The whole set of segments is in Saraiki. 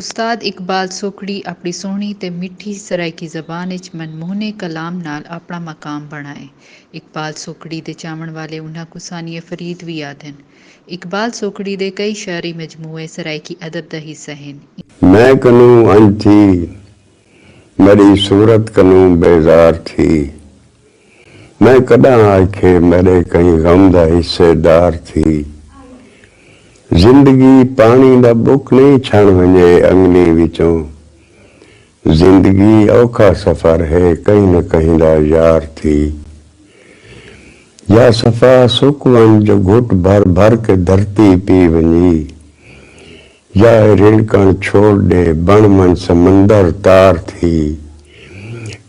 استاد اقبال سوکھڑی اپݨی سوہݨی تے مٹھی سرائیکی زبان اچ من موہنے کلام نال اپݨا مقام بݨائے۔ اقبال سوکھڑی دے چاوݨ والے انہاں کوں ثانیہ فرید وی آہدن۔ اقبال سوکھڑی دے کئی شعری مجموعے سرائیکی ادب دا حصہ ہن۔ میں کنوں انج تھی میݙی صورت کنوں بیزار تھی۔ میں کݙاں آکھیے میݙے کہیں غم دا حصے دار تھی۔ زندگی پاݨی دا بک نئیں چھݨ ونڄے انڳلیں وچوں۔ زندگی اوکھا سفر ہے کہیں نہ کہیں دا یار تھی۔ یا صفا سک ونڄ جو گھٹ بھر بھر کے دھرتی پی ونڄی۔ یا اے رنکݨ چھوڑ ݙے بݨ من سمندر تار تھی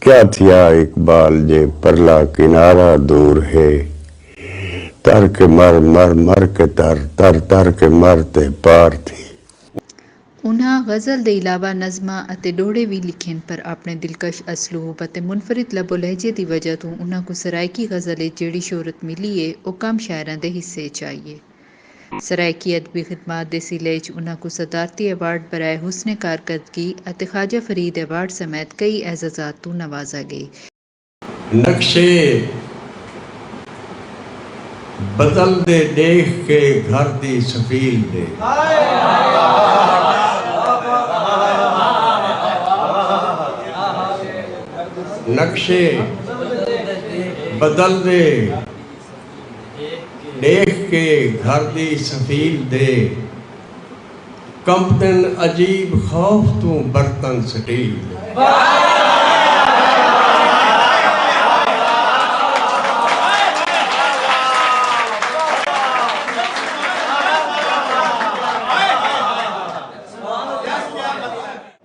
کیا تھیا اقبال جے پرلا کنارہ دور ہے تر کے مر مر مر کے تر تر تر کے مر تے پار تھی۔ انہاں غزل دے علاوہ نظماں اتے ݙوہڑے وی لکھئن پر آپݨے دلکش اسلوب اتے منفرد لب و لہجے دی وجہ توں انہاں کوں سرائیکی غزل اچ جیڑھی شہرت ملی اے او کم شاعراں دے حصے اچ آئی اے۔ سرائیکی ادبی خدمات دے سلے اچ انہاں کوں صدارتی ایوارڈ برائے حسن کارکردگی اتے خواجہ فرید ایوارڈ سمیت کئی اعزازات توں نوازا ڳئے۔ نقشے بدلدے ݙیکھ کے گھر دی سفیل دے۔ ڈیکھ کے گھر دی سفیل دے کمپتن عجیب خوف توں برتن سٹیل دے۔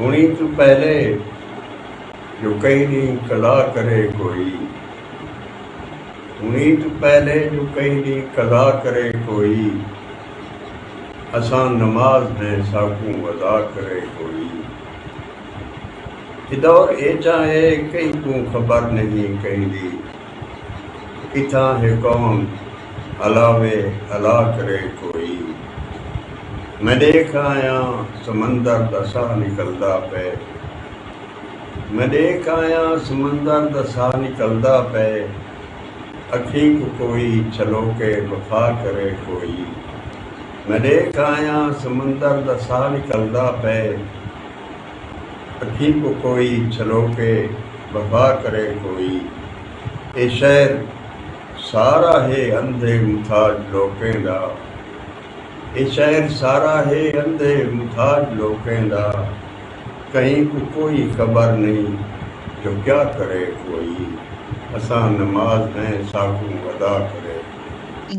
ہݨیں توں پہلے جو کئی ݙینہہ قضا کرے کوئی ہݨیں توں پہلے جو کئی ݙینہہ قضا کرے کوئی اساں نماز ہیں ساکوں وضع کرے کوئی اے دور ایجھا ہے کہیں کوں خبر نہیں کہیں دی اتھاں ہے کون الاوے الا کرے کوئی میں ݙیکھ آیاں سمندر دا ساہ نکلدا پئے میں ݙیکھ آیاں سمندر دا ساہ نکلدا پئے اکھیں کوں کوئی چھلوکے وفا کرے کوئی میں ݙیکھ آیاں سمندر دا ساہ نکلدا پئے۔ اکھیں کوں کوئی چھلوکے وفا کرے کوئی اے شہر سارا ہے اندھے متھاج لوکیں دا اے شہر سارا ہے اندھے متھاج لوکیں دا کہیں کوں کوئی خبر نئیں جو کیا کرے کوئی اساں نماز ہیں ساکوں ادا کرے کوئی۔